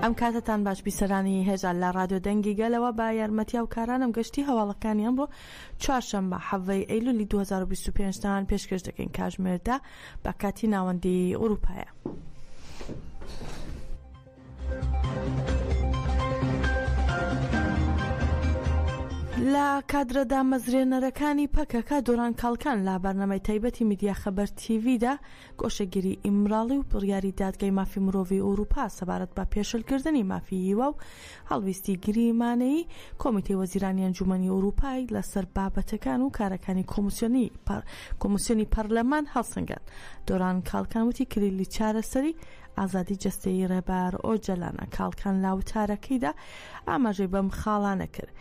ئەم کاتتان باش بیسەرانی هێژان لە رادیۆ دەنگی گەلەوە با یارمەتیا و کارانم گەشتی هەواڵەکانی ئەمڕۆ چوارشەممە حەڤەی ئەیلولی 2025 تان پێشکەش دەکەین کاژمێردا بە کاتی ناوەندی ئوروپایە. لە کادرە دامەزرێنەرەکانی پەکەکە دۆران کاڵکان لە بەرنەمەی تایبەتی میدیا خەبەر تیڤدا گۆشەگیری ئیمراڵی و بڕیاری دادگای مافی مرۆڤی ئەوروپا سەبارەت بە پێشلکردنی مافی هیوا و هەڵویستی گریمانەی کۆمیتی وەزیرانی ئەنجومنی ئەوروپای لەسەر بابەتەکان و کارەکانی کۆمسیۆنی کۆمسیۆنی پەرلەمان هەڵسەنگان دۆران کاڵکان وتی کلیلی چارەسەری ئازادی جەستەیی ڕێبەر ئۆجەلانە کاڵکان لا وتارەکەیدا ئاماژەی بەم خاڵانە کرد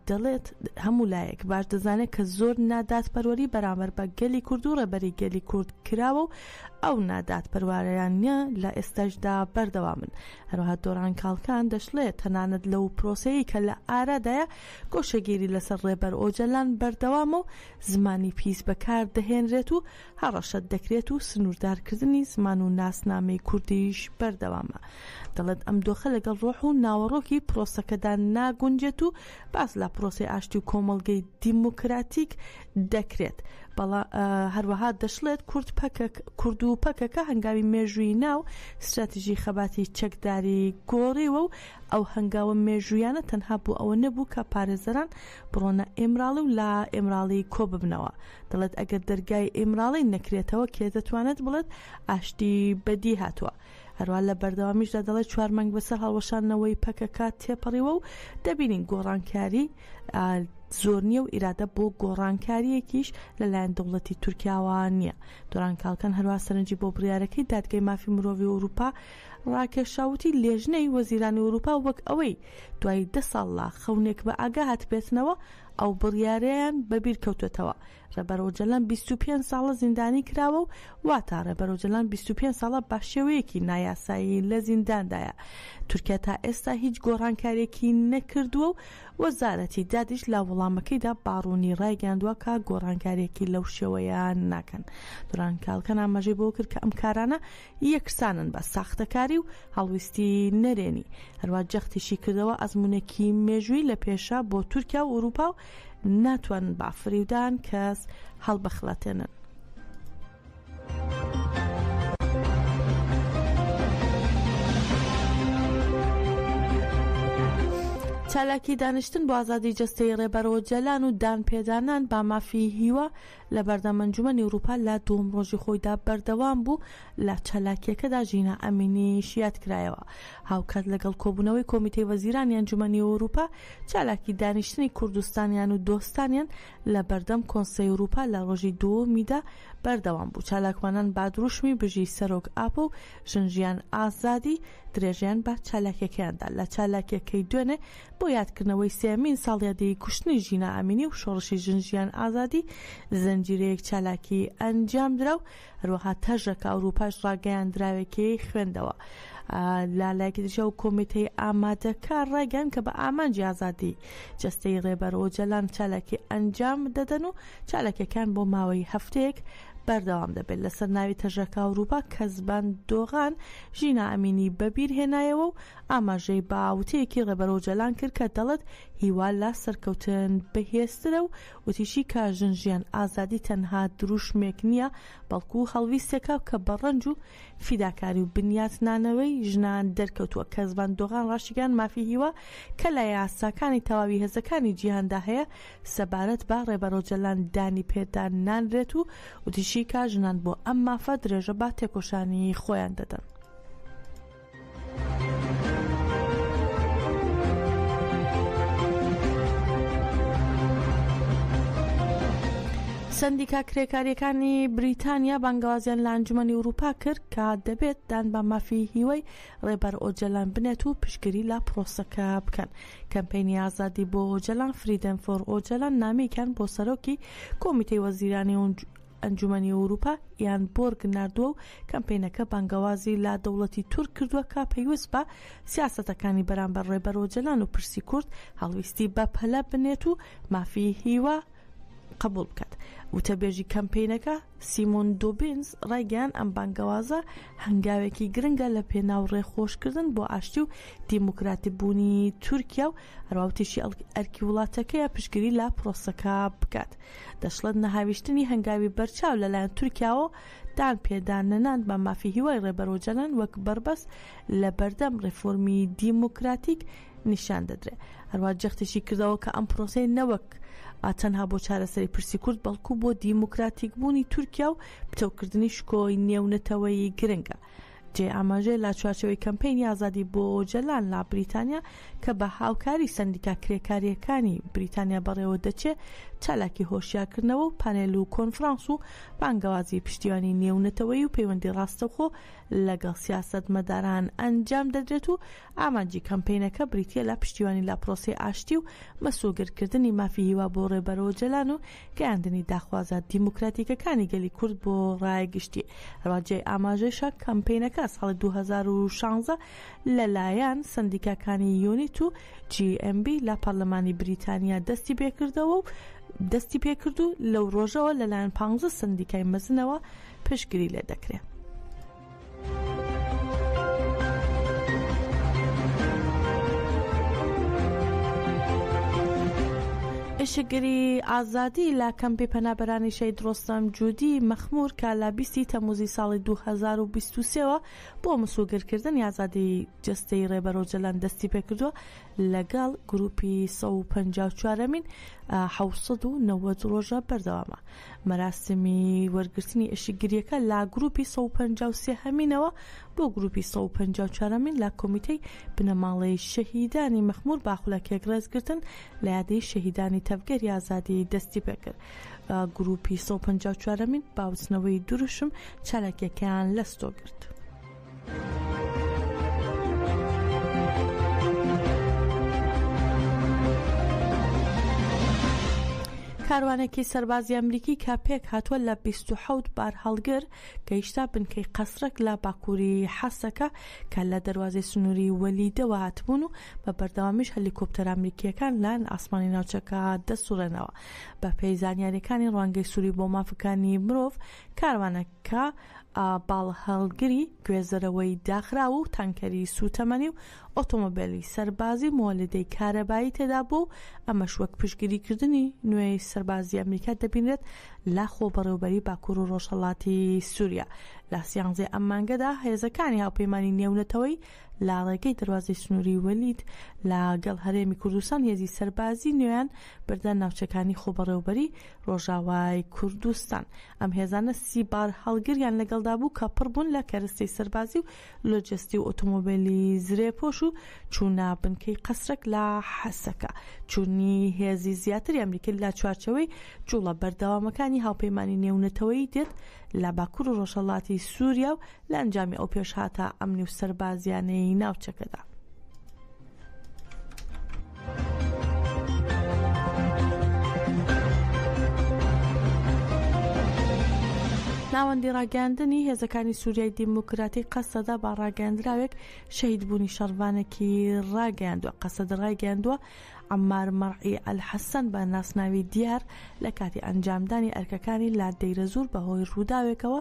دەڵێت هەموو لایەک باش دەزانێت کە زۆر نادات پەروەری بەرامەر بە گەلی کورد و ڕێبەری گەلی کورد کراوە و ئەو نادات پەروارەیانە لە ئێستاشدا بەردەوامن هەروها دۆران کاڵکان دەشڵێت تەنانەت لەو پرۆسەیە کە لە ئارادایە گۆشەگیری لەسەر ڕێبەر ئۆجەلان بەردەوامە و زمانی پیس بەکار دەهێنرێت و هەڕەشەت دەکرێت و سنووردارکردنی زمان و ناسنامەی کوردیش بەردەوامە. دەڵێت ئەم دۆخە لەگەڵ ڕۆح و ناوەڕۆکی پرۆسەکەدا ناگونجێت و باس لە پرۆسەی ئاشتی و کۆمەڵگەی دیموکراتیک دەکرێت بەڵا هەروەها دەشڵێت کورد پەکەک کورد و پەکەکە هەنگاوی مێژووی ناو ستراتیژی خەباتی چەکداری گۆڕیوە و ئەو هەنگاوە مێژوویانە تەنها بۆ ئەوە نەبوو کە پارێزەران بڕۆنە ئیمراڵی و لە ئیمراڵی کۆببنەوە. دەڵێت ئەگەر دەرگای ئیمراڵی نەکرێتەوە کێ دەتوانێت بڵێت ئاشتی بەدی هاتووە؟ هەروە لە بەردەوامیشدا دەڵێت چوار مانگ بەسەر هەڵوەشاندنەوەی پەکەکە تێپەڕیوە و دەبینین گۆڕانکاری زۆر نییە و ئیرادە بۆ گۆڕانکاریەکیش لەلایەن دەوڵەتی تورکیاوە نییە دۆران کاڵکەن هەروە سەرنجی بۆ بڕارەکەی دادگەی مافی مرۆڤی ئەوروپا ڕاکێشاوتی لێژنەی وەزیرانی ئورووپا وەک ئەوەی دوای دە ساڵ لە خەونێک بە ئاگا هاتبێتنەوە ئەو بڕیارەیان بە بیر کەوتۆتەوە ڕێبەر ئۆجەلان بیست و پێنج ساڵە زیندانی کراوە و واتا ڕێبەر ئۆجەلان بیست و پێنج ساڵە بە شێوەیەکی نایاسایی لە زینداندایە تورکیا تا ئێستا هیچ گۆڕانکارێکی نەکردووە و وەزارەتی دادیش لە وەڵامەکەیدا باڕوونی ڕایگەیاندووە کە گۆڕانکارێکی لەو شێوەیە ناکەن دوران کاڵکەن ئاماژەی بەوە کرد کە ئەم کارانە یەکسانن بە ساختەکاری و هەڵویستی نەرێنی. هەروا جەختیشی کردەوە ئەزموونێکی مێژووی لە پێشە بۆ تورکیا و ئورووپا و ناتوانن بە فریودان کەس هەڵبخڵەتێنن. چالاکی دانیشتن بۆ ئازادی جەستەیی ڕێبەر ئۆجەلان و دانپێدانان بە مافی هیوا، لە بەردەم ئەنجومەنی ئوروپا لە دووەم ڕۆژی خۆیدا بەردەوام بوو، لە چالاکییەکەدا ژینا ئەمینیش یاد کرایەوە. هاوکات لەگەڵ کۆبوونەوەی کۆمیتەی وەزیرانی ئەنجومەنی ئوروپا، چالاکی دانیشتنی کوردستانیان و دۆستانیان لە بەردەم کۆنسەی ئوروپا لە ڕۆژی دووەمیدا بەردەوام بوو، چالاکوانان بە دروشمی بژی سەرۆک ئاپۆ و ژن ژیان ئازادی درێژەیان بە چالاکیەکەیان دا، لە چالاکیەکەی دوێنێ بۆ یادکردنەوەی سێیەمین ساڵیادی کوشتنی ژینا ئەمینی و شۆڕشی ژن ژیان ئازادی زنجیرەیەک چالاکی ئەنجامدرا و هەروەها تەژەکە ئەوروپاش ڕاگەیاندراوێکی خوێندەوە لە لایەکی دیشە و کۆمیتەی ئامادەکار ڕایگەن کە بە ئامانجی ئازادی جەستەی ڕێبەر و جەلان چالاکی ئەنجام دەدەن و چالاکیەکان بۆ ماوەی هەفتەیەک بەردەوام دەبێت لەسەر ناوی تەژەکە ئەوروپا کەزبان دۆغان ژینا ئەمینی بەبیرهێنایەوە و ئاماژەی بە وتەیەکی ڕێبەر ئۆجالان کرد کە دەڵێت هیوا لە سەرکەوتن بەهێزترە و وتیشی کە ژن ژیان ئازادی تەنها دروشمێک نییە بەڵکو هەڵویستێکە کە بە ڕەنج و فیداکاری و بنیاتنانەوەی ژنان دەرکەوتووە کەس ڤان دۆغان ڕاشیگەیاند مافی هیوا کە لە یاساکانی تەواوی هێزەکانی جیهاندا هەیە سەبارەت بە ڕێبەر ئۆجالان دانی پێدا نانرێت و وتیشی کە ژنان بۆ ئەم مافە درێژە بە تێکۆشانی خۆیان دەدەن. سندیکا کرێکاریەکانی بریتانیا بانگوازیان لە ئەنجومی وروپا کرد کە دەبێت دان بە مافی هیوای ڕێبەر ئۆجەلان بنێت و پشگیری لە پرۆسەکە بکەن کەمپینی ئازادی بۆ ئۆجەلان فریدەن فۆر ئۆجەلان نامێکیان بۆ سەرۆکی کۆمیتەی وەزیرانی ئەنجومەنی ئەوروپا یان بۆرگ ناردووە و کەمپەینەکە بانگەوازی لە دەوڵەتی تورک کردووە کە پەیوەست بە سیاسەتەکانی بەرامبەر ڕێبەر ئۆجەلان و پرسی کورد هەڵویستی بە پەلە بنێت و مافی هیوا قبول بکات وتەبێژی کەمپینەکە سیمۆن دوبینز ڕایگەیان ئەم بانگەوازە هەنگاوێکی گرنگە لە پێناو ڕێخۆشکردن بۆ ئاشتی و دیموکراتی بوونی تورکیا و هەراوتیشی ئەرکی وڵاتەکەیە پشگیری لە پرۆسەکە بکات دەشڵێت نەهاویشتنی هەنگاوی بەرچاو لەلایەن تورکیاوە دان پێدان نەنان بە مافی هیوای ڕێبەر ئۆجەلان وەک بەربەست لە بەردەم ڕێفۆرمی دیموکراتیک نیشان دەدرێ هەروە جەختیشی کردەوە کە ئەم پرۆسەی نەوەک ئاتەنها بۆ چارەسەری پرسی کورد بەڵکو بۆ دیموکراتیک بوونی تورکیا و پتەوکردنی شکۆی نێونەتەوەیی گرنگە جێی ئاماژەیە لە چوارچێوەی کەمپەینی ئازادی بۆ ئۆجەلان لە بریتانیا کە بە هاوکاری سەندیکا کرێکارییەکانی بریتانیا بەڕێوە دەچێ چالاکی هۆشیارکردنەوە و پانێل و کۆنفرانس و بانگەوازی پشتیوانی نێونەتەوەی و پەیوەندی ڕاستەوخۆ لەگەڵ سیاست مەداران ئەنجام دەدرێت و ئامانجی کەمپەینەکە بریتە لە پشتیوانی لە پرۆسی ئاشتی و مەسوگرکردنی مافی هیوا بۆ ڕێبەرۆجەلان و گەیاندنی داخوازە دیموکراتیکەکانی گەلی کورد بۆ ڕای گشتی. هەروە جێی ئاماژەشە کەمپینەکە ساڵی 2016 لەلایەن سەندیکاکانی یونیت و GMB لە پەرلەمانی بریتانیا دەستی پێکردەوە و دەستی پێکرد و لەو ڕۆژەوە لەلایەن 15 سەندیکای مەزنەوە پشتگری لێ دەکرێت. ئشکگری ئازادی لە کەمپی پەنابەرانی شەید ڕۆستەم جودی مەخمور کە لە بیستی تەموزی ساڵی 2023ەوە بۆ مسوگرکردن یازادی جستەی ڕێبەرۆ جەلان دەستی پێکردووە لەگەڵ گروپی 154مین 1990 ڕۆژە بەردەوامە مەراسمی وەرگرتنی ئێشکگرییەکە لە گروپی سەد و پەنجا و سێ هەمینەوە بۆ گروپی سەد و پەنجا و چوار هەمین لە کۆمیتەی بنەماڵەی شەهیدانی مەخمور باخولەکێک ڕێزگرتن لە یادەی شەهیدانی تەڤگەری ئازادی دەستیپێکرد و گروپی سەد و پەنجا و چوار هەمین باوتنەوەی دروشم چالاکییەکەیان لەستۆ گرت. کاروانێکی سەربازی ئەمریکی کە پێک هاتووە لە 26 بار هەڵگر گەیشتا بنکەی قەسرەک لە باکووری حەسەکە کە لە دەواازی سنووری وەلیدەوە هاتبوون و بە بەردەوامیش هەلیکۆپتەر ئەمریکیەکان لایەن ئاسمانی ناوچەکە دەسوڕێنەوە بە پێی زانیاریەکانی ڕوانگەی سووری بۆ مافەکانی مرۆڤ کاروانەکە کە باڵهەڵگری گوێزەرەوەی داخراو و تانکەری سووتەمەنی و ئۆتۆمۆبێلی سەربازی و مۆلیدەی کارەبایی تێدا بووە و ئەمەش وەک پشتگیریکردنی نوێی سەربازی ئەمریکا دەبینرێت لە خۆبەڕێوبەری باکوور و ڕۆژهەڵاتی سووریا. لە سیانزەی ئەم مانگەدا هێزەکانی هاوپەیمانی نێونەتەوەی لە ڕێگەی دەروازەی سنووری وەلید لە گەڵ هەرێمی کوردستان هێزی سەربازی نوێیان بردە ناوچەکانی خۆبەڕێوبەری ڕۆژاوای کوردستان. ئەم هێزانە سی بارهەڵگریان لەگەڵدا بوو کە پڕ بوون لە کەرستەی سەربازی و لۆجستی و ئۆتۆمۆبێلی زرێپۆش و چوونە بنکەی قەسرەک لە حەسەکە. چوونی هێزی زیاتری ئەمریکی لە چوارچێوەی جووڵە بەردەوامەکانی هاوپەیمانی نێونەتەوەیی دێت لە باکوور و ڕۆژهەڵاتی سووریا و لە ئەنجامی ئەو پێشهاتە ئەمنی و سەربازییانەی ناوچەکەدا. ناوەندی ڕاگەاندنی هێزەکانی سووریای دیموکراتی قەسەدا با ڕاگەاندراوێک شەهید بوونی شەڕڤانێکی ڕاگەاندوە قەسەد ڕایگەاندووە عەمار مەرعی ئەلحەسەن بە ناسناوی دیار لە کاتی ئەنجامدانی ئەرکەکانی لە دەیرەزوور بە هۆی رووداوێکەوە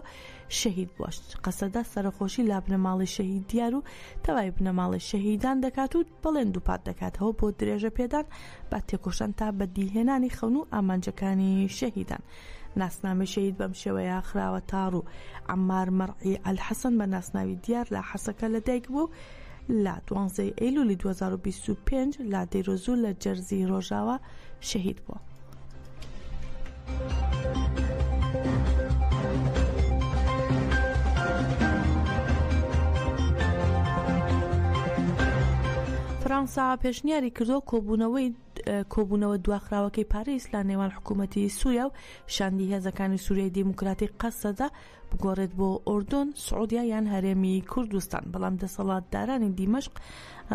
شەهید بووە، قەسەدە سەرەخۆشی لە بنەماڵەی شەهید دیار و تەوای بنەماڵەی شەهیدان دەکات و بەڵێن دووپات دەکاتەوە بۆ درێژە پێدان بە تێکۆشان تا بەدیهێنانی خەون و ئامانجەکانی شەهیدان. ناسنامەی شەهید بەم شێوەیە خراوەتە روو، عەمار مەرعی ئەلحەسەن بە ناسناوی دیار لە حەسەکە لە دایک بووە و لە دوانزە ی ئەیلولی دوو هەزار و بیست و پێنج لە دەیرۆزوور لە جەرزی رۆژاوا شەهید بووە. فەرەنسا پێشنیاری کردووە کۆبوونەوەی کۆبوونەوە دواخراوەکەی پاریس لە نێوان حکوومەتی سووریا و شاندی هێزەکانی سووریای دیموکراتی قەسەدە بگۆڕێت بۆ ئۆردۆن، سعودیا یان هەرێمی کوردستان، بەڵام دەسەڵاتدارانی دیمەشق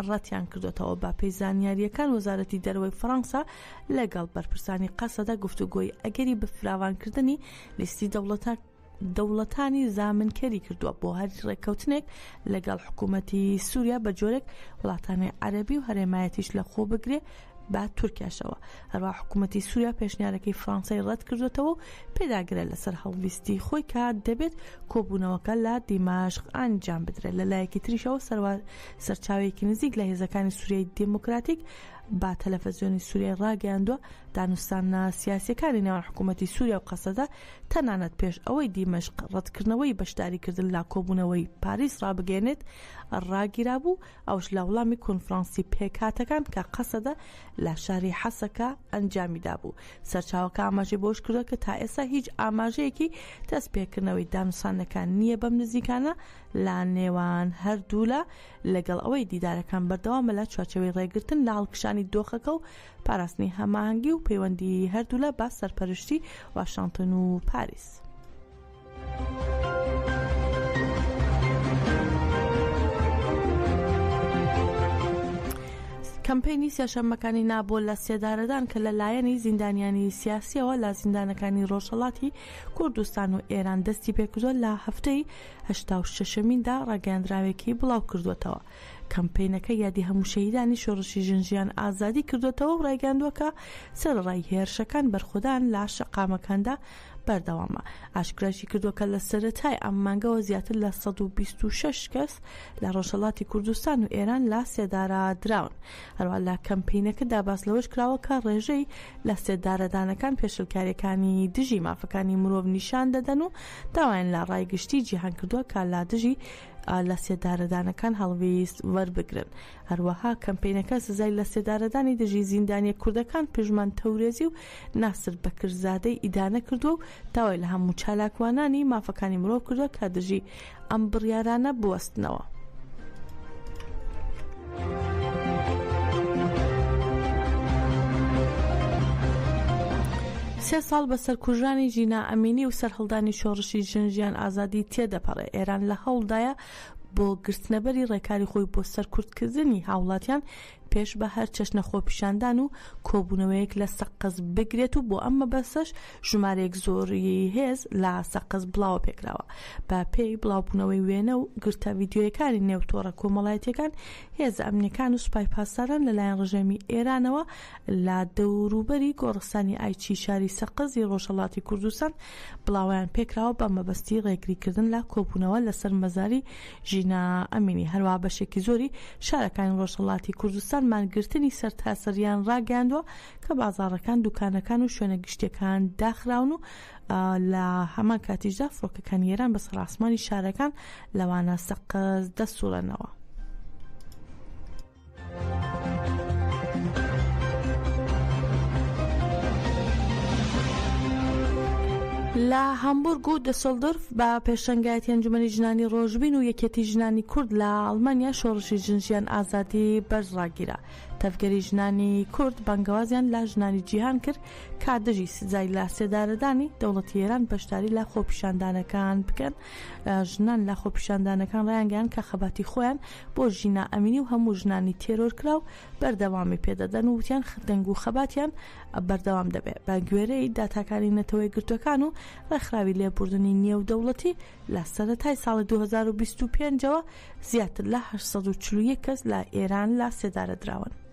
ڕەتیان کردۆتەوە. بەپێی زانیارییەکان وەزارەتی دەرەوەی فەڕەنسا لەگەڵ بەرپرسانی قەسەدە گفتوگۆی ئەگەری بەفراوانکردنی لیستی دەوڵەتە دەوڵەتانی زامنکەری کردووە بۆ هەر ڕێککەوتنێک لەگەڵ حکوومەتی سووریا بە جۆرێک وڵاتانی عەربی و هەرێمایەتیش لە خۆ بگرێ بە تورکیاشەوە هەروەها حکوومەتی سووریا پێشنیارەکەی فڕانسەی ڕەت کردوێتەوە و پێداگرە لەسەر هەڵویستی خۆی کە دەبێت کۆبوونەوەکە لە دیمەشق ئەنجام بدرێت لە لایەکی تریشەوە سەروار سەرچاوێکی نزیک لە هێزەکانی سووریای دموکراتیک با تەلەفەزیۆنی سووریای ڕاگەیاندووە دانوستانە سیاسەکانی نێوان حکوومەتی سووریا و قەسەدە تەنانەت پێش ئەوەی دیمەشق ڕەتکردنەوەی بەشداریکردن لا کۆبوونەوەی پاریس ڕابگەێنێت ڕاگیرابوو ئەوەش لە وڵامی کۆنفرانسی پێکهاتەکان کە قەسەدە لە شاری حەسەکە ئەنجامی دابوو. سەرچاوەکە ئاماژەی بەوەش کردووە کە تا ئێستا هیچ ئاماژەیەکی دەست پێکردنەوەی دانوستاندنەکە نییە بەم نزیکانە لە نێوان هەردوولا لەگەڵ ئەوەی دیدارەکان بەردەوامە لە چوارچێوەی ڕێگرتن لە هەڵکشانی دۆخەکە و پاراستنی هەماهەنگی و پەیوەندی هەردوولا بە سەرپەرشتی واشنتن و پاریس. کەمپەینی سێشەممەکانی نا بۆ لە سێدارەدان کە لە لایەنی زیندانیانی سیاسیەوە لە زیندانەکانی ڕۆژهڵاتی کوردستان و ئێران دەستی پێکردوە لە هەفتەی هشتا شەشەمیندا ڕاگەیاندراوێکی بڵاو کردوێتەوە کەمپینەکە یادی هەموو شەهیدانی شۆڕشی ژنجیان ئازادی کردوێتەوە و ڕایگەاندووە کە سەرڕای هێرشەکان بەرخودان لە شەقامەکاندا بەردەوامە، ئاشکراشیکردووە کە لە سەرەتای ئەم مانگەوە زیاتر لە سەد و بیست و شەش کەس لە ڕۆژهەڵاتی کوردستان و ئێران لە سێدارەدراون، هەروەها لە کەمپەینەکەدا باس لەوەشکراوە کە ڕێژەی لە سێدارەدانەکان پێشێلکارییەکانی دژی مافەکانی مرۆڤ نیشان دەدەن و داوایان لە ڕای گشتیی جیهان کردووە کە لە دژی لە سێدارەدانەکان هەڵویست وەربگرن. هەروەها کەمپەینەکە سزای لەسێدارەدانی دژی زیندانیە کوردەکان پژمان تەورێزی و ناسر بەکرزادەی ئیدانە کردووە و داوای لە هەموو چالاکوانانی مافەکانی مرۆڤ کردووە کە دژی ئەم بڕیارانە بوەستنەوە. سێ ساڵ بە سەرکوژرانی ژینا ئەمینی و سەرهەڵدانی شۆڕشی ژن ژیان ئازادی تێدەپەڕێ ئێران لە هەوڵدایە بۆ گرتنەبەری ڕێکاری خۆی بۆ سەرکوتکردنی هاوڵاتیان پێش بە هەر چەشنە خۆپیشاندان و کۆبوونەوەیەک لە سەقز بگرێت و بۆ ئەم مەبەسەش ژمارەیەک زۆری هێز لە سەقز بڵاوە پێکراوە بە پێی بڵاوبوونەوەی وێنە و گرتە ڤیددیویەکانی نێو تۆڕە کۆمەڵایەتەکان هێز ئەمنیەکان و سوپای پاسداران لەلایەن ڕژێمی ئێرانەوە لە دەوروبەری گۆڕستانی ئایچی شاری سەقزی ڕۆژهەڵاتی کوردستان بڵاوەیان پێکراوە بە مەبەستی ڕێگریکردن لە کۆبوونەوە لەسەر مەزاری ژینا ئەمینی، هەروەها بەشێکی زۆری شارەکانی ڕۆژهەڵاتی کوردستان مانگرتنی سەرتاسەرییان ڕاگەیاندووە کە بازاڕەکان، دووکانەکان و شوێنە گشتییەکان داخراون و لە هەمان کاتیشدا فڕۆکەکانی ئێران بەسەر ئاسمانی شارەکان لەوانە سەقز دەسووڕێنەوە. لە هەمبورگ و دەسەڵدرف بە پێشەنگایەتی ئەنجومەنی ژنانی ڕۆژبین و یەکێتی ژنانی کورد لە ئەڵمانیا شۆڕشی ژنژیان ئازادی بەرز ڕاگیرا تەڤگەری ژنانی کورد بەنگەوازیان لە ژنانی جیهان کرد کادژی سزای لە سێدارەدانی دەوڵەتی ئێران بەشداری لە خۆپیشاندانەکان بکەن ژنان لە خۆپیشاندانەکان ڕایانگەیاند کە خەباتی خۆیان بۆ ژینا ئەمینی و هەموو ژنانی تێرۆرکراو بەردەوامی پێدەدەن و وتیان دەنگ و خەباتیان بەردەوام دەبێت بە گوێرەی داتاکانی نەتەوەی گرتوەکان و ڕێکخراوی لێبوردنی نێودەوڵەتی لە سەرەتای ساڵی 2025ەوە زیاتر لە 841 کەس لە ئێران لە سێدارە دراون.